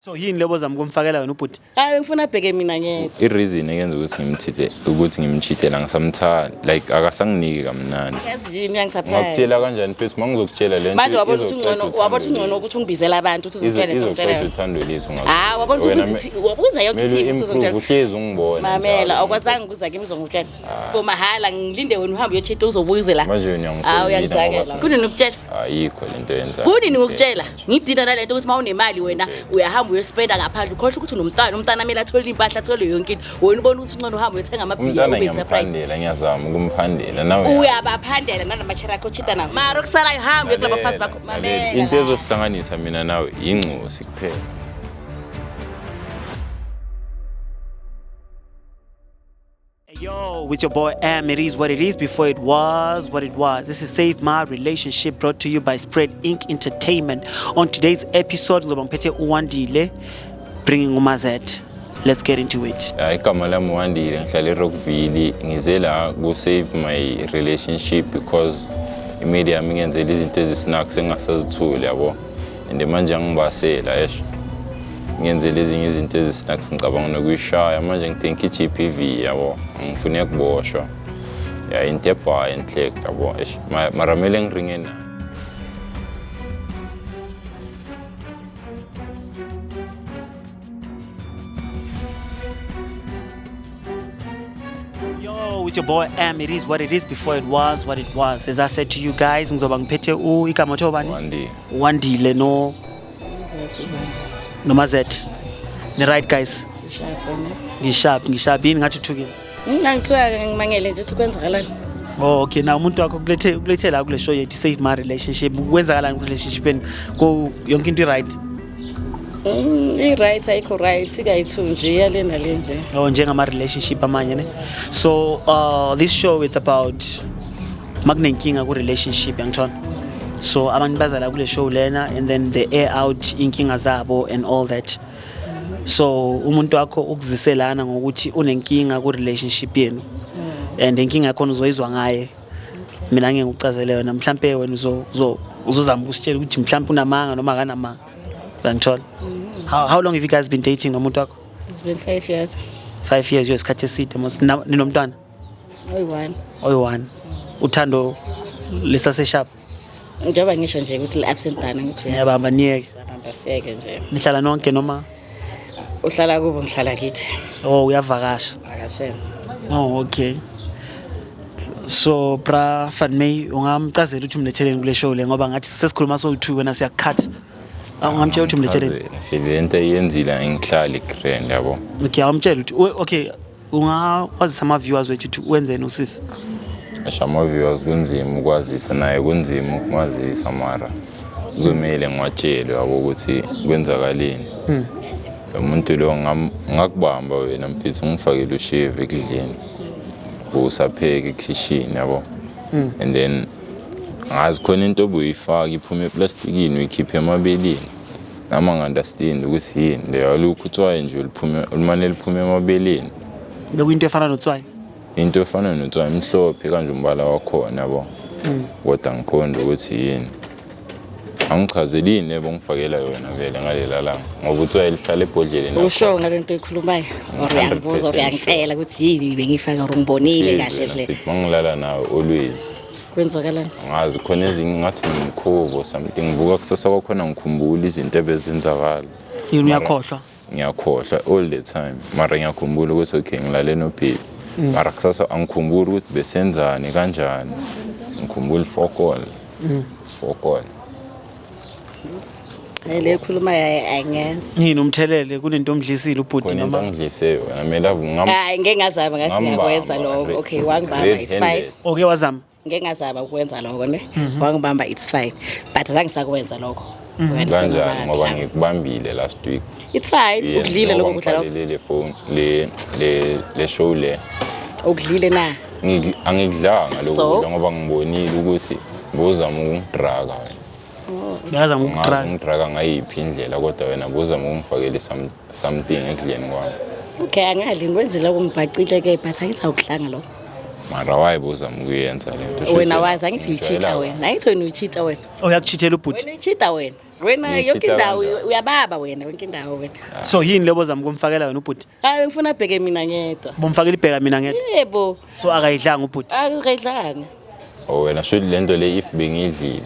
so yini lebo zama ukumfakela yona ubhuti hayi bengifuna abheke mina ngeke i-reason eyenza ukuthi ngimthithe ukuthi ngimchithela ngisamthanda like akasanginiki kamnandi yazi yini uyangisurprise ngakutshela kanjani mfethu uma ngizokutshela le manje wabona ukuthi ungcono wabona ukuthi ungcono ukuthi ungibizela abantu ukuthi uzitshele into ngitshela yona uthando lethu ngazo hayi wabona ukuthi ubizi wabuza yonke ithi futhi uzongitshela uhlezi ungibona mamela awukwazanga ukuza kimi uzongitshela ah. for mahala ngilinde wena uhambe uyochitha uzobuyizela manje wena uyangitshela hayi uyangidakela kunini ukutshela ayikho lento yenza kunini ukutshela ngidina nalento ukuthi uma unemali wena uyahamba uyospenda ngaphandle ukhohlwa ukuthi unomntwana umntwana amele athole impahla athole yonke into wena ubona ukuthi uncono uhamba uyothenga amabhiya ube surprise ngiyazama ukumphandela nawe uyabaphandela nanamatshera akho chita nawo mara okusalayo hamba uyokulaba bafazi bakho mamela into ezohlanganisa mina nawe yingcosi kuphela Yo, with your boy M, it is what it is before it was what it was. This is Save My Relationship brought to you by Spread Inc. Entertainment. On today's episode, ngizoba ngiphethe uWandile bringing uMazet. Let's get into it. Hayi igama lami Wandile ngihlala eRockville ngize la ku save my relationship because imedia yami ingenzela izinto ezisinakho sengasazithuli yabo. and manje angibasela esho ngenzele ezinye izinto ezisnak ngicabanga nokuyishaya manje ngithenka i-g p v yabo angifune kuboshwa ya into ebhayi enhlek yabo esh maramele ngiringe nayo Yo, with your boy M, it is what it is before it was what it was. As I said to you guys, ngizoba ngiphethe u igama othiwa bani? Wandile. Wandile no noma Z. Ni right guys? Ngisharp, ngisharp yini ngathi uthukile. Ngangithiwa ngimangele nje ukuthi kwenzakalani. Oh, okay na umuntu wakho kulethe kulethe la kule show yethu save my relationship kwenzakalani ku relationship yenu ko yonke into right Mm, i right ayikho right ikayithu nje iyalena le nje. oh njengama relationship amanye ne so uh this show it's about makunenkinga ku relationship yangithola so abantu bazala kule show lena and then they air out inkinga zabo and all that so umuntu wakho ukuziselana ngokuthi unenkinga ku relationship yenu hmm. and inkinga yakho uzoyizwa ngaye mina ngeke ngikucazele yona mhlambe wena uzo uzozama ukusitshela ukuthi mhlambe unamanga noma akanamanga uyangithola hmm. how, how long have you guys been dating nomuntu wakho it's been 5 years 5 years yesikhathi eside mos ninomntwana oyi-one oyi-one uthando lisaseshap njengoba ngisho nje ukuthi li-absent dana ngithi uyabamba niyeke uyabamba siyeke nje nihlala nonke noma uhlala kubo ngihlala kithi oh uyavakasha vakashela oh okay so bra fan may ungamcazela ukuthi umletheleni kule show le ngoba ngathi sesikhuluma sowu-two wena siyakukhatha ungamtshela ukuthi umletheleni Aze, ngihlezi into eyenzile angihlali grand yabo okay awumtshela ukuthi we- okay ungakwazisa ama-viewers wethu ukuthi wenzeni usisi asho ama-viewers kunzima ukwazisa naye kunzima ukumazisa mara kuzomele ngiwatshele yabo ukuthi kwenzakaleni hmm. lo muntu lo ngakubamba wena mfethu ungifakele usheve ekudleni usapheke ekhishini yabo hmm. and then ngazi khona into obuyifaka iphuma eplastikini uyikhiphe emabeleni Nami angi-understand ukuthi yini le alukho utswayi nje oluphume olumane luphume emabeleni. Bekuyinto efana notswayi. Into efana notswayi mhlophe kanje umbala wakhona yabo. Kodwa angiqondi ukuthi yini. Angichazeli yini le bongifakela yona vele ngalela langa ngoba utswayi lihlala ebhodleleni. Usho ngale nto oyikhulumayo or uyangibuza or uyangitshela ukuthi yini bengiyifaka or ngibonile kahle hle. Mangilala nawe always. kwenzakalani ngazi khona ezinye ngathi ngimkhubo something ngibuka kusasa kwakhona ngikhumbula izinto ebezenzakala yini uyakhohlwa ngiyakhohlwa all the time mara ngiyakhumbula ukuthi okay ngilale nophili mm. mara kusasa angikhumbuli ukuthi besenzani kanjani ngikhumbula ifokol mm. fokol le khuluma yaye angenzi yini umthelele kunento omdlisile ubhuti noma angidlise wena mina ngam hayi ngeke ngazama ngathi ngiyakwenza lokho okay wangibamba it's fine okay wazama ngeke ngazama ukwenza lokho ne mhm. wangibamba it's fine but zange sakwenza lokho mhm. kanjani ngoba ngikubambile last week it's fine ukudlile lokho kudlala le phone le le le show le ukudlile na angikudlanga So? lokudla ngoba ngibonile ukuthi buzama ukungidraka wena Uyazama ngazi ukudraga. ungidraka ngayiphi indlela kodwa wena buzama ukungifakele some- something ekudleni kwami Okay, angadli ngikwenzile ukungibhacile ke but angithi awukudlanga lokho. mara waye buzama ukuyenza le nto Shuthi Wena wazi angithi uyi-cheater ngijwayela- wena. Angithi wena uyi-cheater wena. Oh, Uyakuchithela ubhuti. Wena uyi-cheater wena. Wena Ngiyi-cheater yonke indawo kanjani? uyababa wena yonke indawo wena. So yini lebo zama ukumfakela wena ubhuti? hayi bengifuna abheke mina ngedwa Bomfakela ibheka mina ngedwa. yebo So akayidlanga ubhuti. akayidlanga Oh wena shuthi le nto le if bengiyidlile.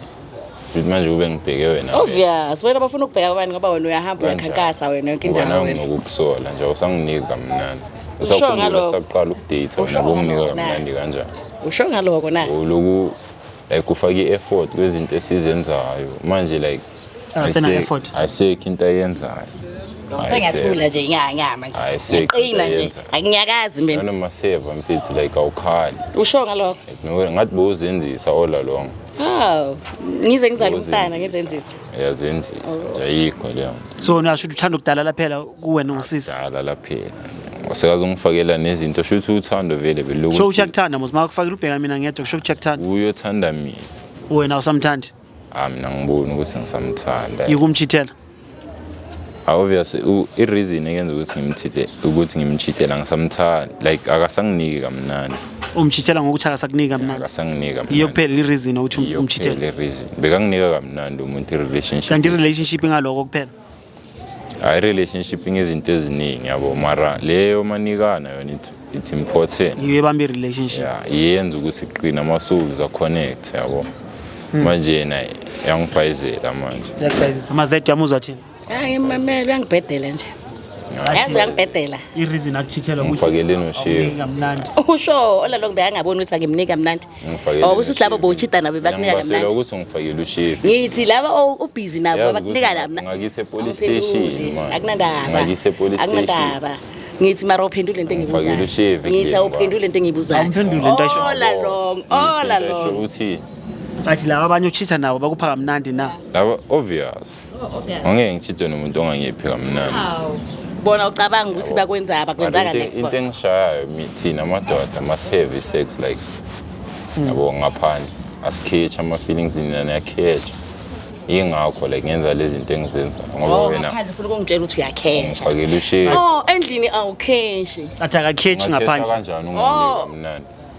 Shuthi manje kube ngibheke wena. obvious wena bafuna ukubheka abani ngoba wena uyahamba Kanjani? uyakhankasa wena yonke Ngoba indawo nawe wena nginokukusola nje awusanginiki kamnandi. Usho Usakhumbula ngalokho. saqala ukudate Usho wena bonginika ngalokho, na? kamnandi kanjani? usho ngaloko na Uloku like ufaka i-effort kwezinto esizenzayo manje like Akasena Ayise- effort. ayisekho into ayenzayo sengathula nje nya nya manje Hayi, sekho ngiqina nje uyayenza. anginyakazi mina nanoma siyeva mfethu like awukhali usho ngalokho Nowhere, ngathi bowuzenzisa all along haw ngize ngizale umntana ngizenzisa uyazenzisa nje ayikho leyo nto so niyasho ukuthi uthanda ukudalala phela kuwena ungusisi dala laphela usekaze ungifakela nezinto shuthi uthando vele sho ukuthi belokuthi uyakuthanda mos makufakelwa ubheka mina ngedwa kusho ukuthi uyakuthanda uyothanda mina wena awusamthandi Ah mina ngibona ukuthi ngisamthanda. Yikumchithela. Obviously i reason eyenza ukuthi ngimchithe ukuthi ngimchithela ngisamthanda like akasanginiki kamnandi. Umchithela ngokuthi akasakuniki kamnandi. Akasanginiki kamnandi. Iyo kuphela i reason ukuthi umchithela. Iyo kuphela i reason. Bekanginika kamnandi umuntu i relationship. Kanti i relationship ingaloko kuphela. hayi relationship ngezinto eziningi yabo mara leyo manikana yona it's, it's important yiyo ebamba i-relationship ya yenza ukuthi qina ama-souls aconnect yabo hmm. manje yena yangibhayizela manje Yakubhayizisa. amazedi ami uzwa thini hayi mame uyangibhedela nje yazi uyangibhedela i-reason akuchithela Umfakeleni ushiye. kamnandi usho olalokho beyangaboni ukuthi angimniki kamnandi ngifakele okusho ukuthi labo bowuchita nabo bakunika kamnandi ukuthi ngifakele ushevu ngithi laba ubhizi nabo bakunika lami ngakise police station manje akunandaba ngakise police station akunandaba ngithi mara uphendule into engibuzayo ngithi awuphendule into engibuzayo awuphendule into asho all along all along uthi athi laba abanye uchitha nabo bakupha kamnandi na laba obvious Angeke ngitshithe nomuntu ongangiphi kamnandi. Hawu. Bona ucabanga ukuthi bakwenza abakwenza Kanti kanti into- Into export. engishayayo mi- thina amadoda masiheavy sex like yabo ngaphandle asikhethi ama-feelings nina niyakhethwa yingakho like ngenza le zinto engizenzayo ngoba Oh, wena ngaphandle ufuna ukungitshela ukuthi uyakhesha. ngifakele ushevu Oh, endlini awukheshi. athi akakhethi Ungakhethwa ngaphandle kanjani ungamniki kamnandi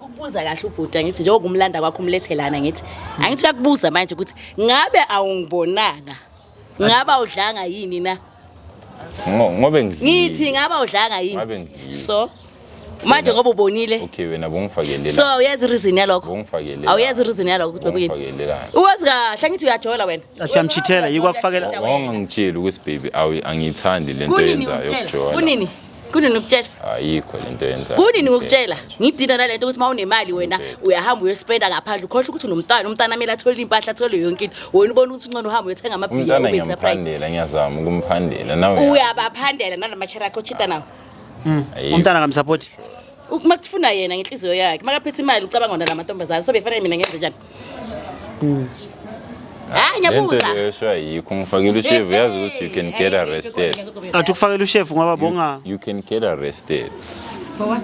Ukubuza kahle ubhuti angithi njengoba umlanda kwakho umlethelana ngithi angithi uyakubuza manje ukuthi ngabe awungibonanga ngabe awudlanga yini na Ngo- ngobe ngidlile. ngithi ngabe awudlanga Ngabe yini ngidlile. so manje ngoba ubonile okay wena bongifakelelani so uyazi reason yalokho Bongifakelelani. awuyazi reason yalokho ukuthi bekuyini Bongifakelelani. uwazi kahle angithi uyajola wena Ashamchithela yikho akufakela wawungangitsheli ukuthi baby awu angiyithandi le nto Kunini yenzayo uphela? ukujola Kunini? kunini ukutshela ayikho lento yenza kunini ngokutshela ngidina nalento ukuthi uma unemali wena uyahamba uyospenda ngaphandle ukhohle ukuthi unomntwana umntwana amele athole impahla athole yonke into wena ubona ukuthi uncono uhamba uyothenga amabhiya ube surprise ngiyazama ukumphandela nawe uyabaphandela nalamatshera akho chita nawo hmm. umntana kamsupport uma kufuna yena ngenhliziyo yakhe makaphethe imali ucabanga ngona lamantombazane so befana mina ngenze njani Hmm. hayi lento ngiyabuza leyosho ayikho ngifakile ushevu yazi ukuthi you can get arrested athi ukufakela ushefu ngoba bonga you can get arrested for what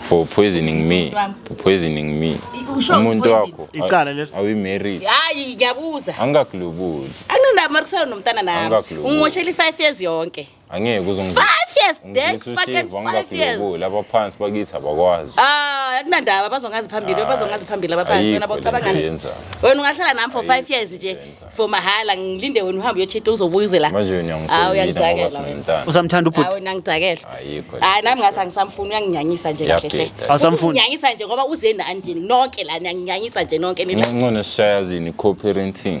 for poisoning me for poisoning me I- usho ukuthi umuntu poison. wakho Icala lelo. awi married hayi ngiyabuza angakulubuli anginabo makusana nomntana nami Angakulungeli. ungimoshela i-five years yonke angeke uzongizwa Five years dead, Ngizwisa fucking ushevu, five angibaphile years. kubo. laba phansi bakithi abakwazi Ah, akunandaba bazongazi phambili, bazongazi phambili abaphansi wena Ayikho le nto bocabangani. yenzayo. Wena ungahlala nami for 5 years nje for mahhala ngilinde wena uhambe uyochita uzobuyizela. manje wena Ah, uyangidakela ngoba uyangidakela. wena. sinomntana usamthanda Hayi ubhuti wena ngidakela. ayikho le Hayi nami ngathi angisamfuni uyanginyanyisa nje kahle hle. Yabheda. Awusamfuni? Uyanginyanyisa nje ngoba uze nani nonke lana nginyanyisa nje nonke nina. nto. ncono sishayazini co-parenting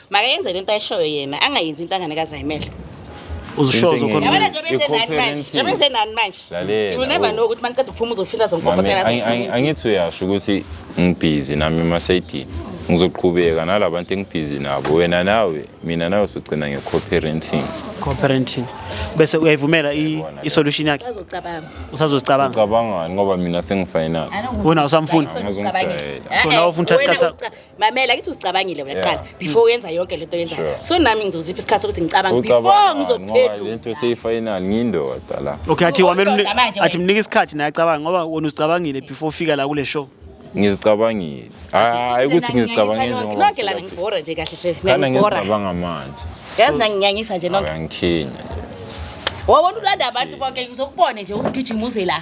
makayenze lento ayishoyo yena angayenzi into angane kazayimele uzishozo Into khona engenye. yabona njengoba enzenani manje Equivalent. njengoba enzenani manje Lalela, you will never u- know ukuthi maniqeda uphuma uzofila Mame, zompokotela angi- angi- angithi uyasho ukuthi ngibhizi nami emasayidini ngizoqhubeka nalabantu engibhizi nabo wena nawe mina nawe sogcina nge-co-parenting co-parenting bese uyayivumela i- i-solution yakhe azocabanga usazozicabanga ucabangani ngoba mina sengifinal wena usamfunda Angizomjwayela. so nawe ufuna uthatha isikhathi sakho mamela kithi uzicabangile wena Yeah. kuqala before uyenza yonke lento oyenzayo Sure. so nami ngizozipha isikhathi sokuthi ngicabange before Ucabanga ngoba ngizophendula lento seyifayinali ngindoda la okay athi wamele Uwundoda mni- manje athi wena. mnike isikhathi naye acabanga ngoba wena uzicabangile before ufika la kule show ngizicabangile hayi ukuthi ngizicabangile njengoba nonke lana ngibhora nje kahle hle kana ngibhora ngizicabanga manje yazi nanginyanyisa nje nonke uyangikhinya nje wawona ulanda abantu bonke uzokubone nje ugijima uze la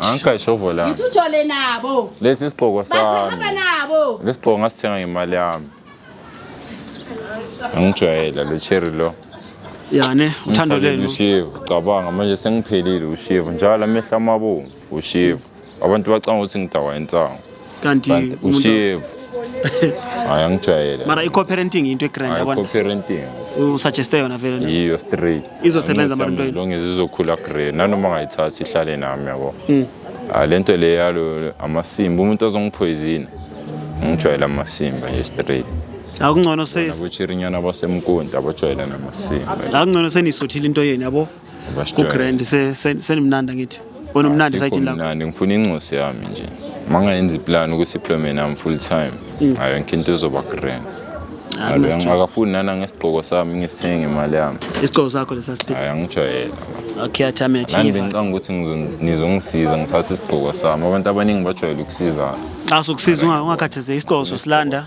angikayishovolangithole nabo lesi isigqoko sami lesi gqoko ngasithenga ngemali yami angijwayela lo cherry lo yani uthando lenu ushivu cabanga manje sengiphelile ushivu njalo amehla amabomvu ushivu abantu bacanga ukuthi ngidakwa insango kanti kanti umuntu- ushevu hayi angijwayele mara i-co-parenting into egrand hayi yabona co-parenting usuggeste yona vele ne? yiyo straight Izosebenza mara into yini? longe zizokhula grey nanoma ngayithathi ihlale nami yabo Hmm. Ah, le nto le yalo amasimba umuntu ozongiphoyizina ngijwayele amasimba nje straight akungcono se- nabochirinyana basemkonti abajwayele namasimba akungcono seniyisuthile into yenu yabo kugrand senimnanda ngithi wena umnandi sayitshini lakho mnandi ngifuna incosi yami nje mangayenza iplan ukuthi iplome nami full time mm. ayo yonke into izoba grand ah, akafuni nana ngesigqoko sami ngisenge imali yami isigqoko sakho lesasidinga angijwayela okay athamile thiva nami ngicanga ukuthi nizongisiza ngithathe isigqoko sami abantu abaningi bajwayele ukusizana xa sokusiza ungakhathazeki isigqoko sosilanda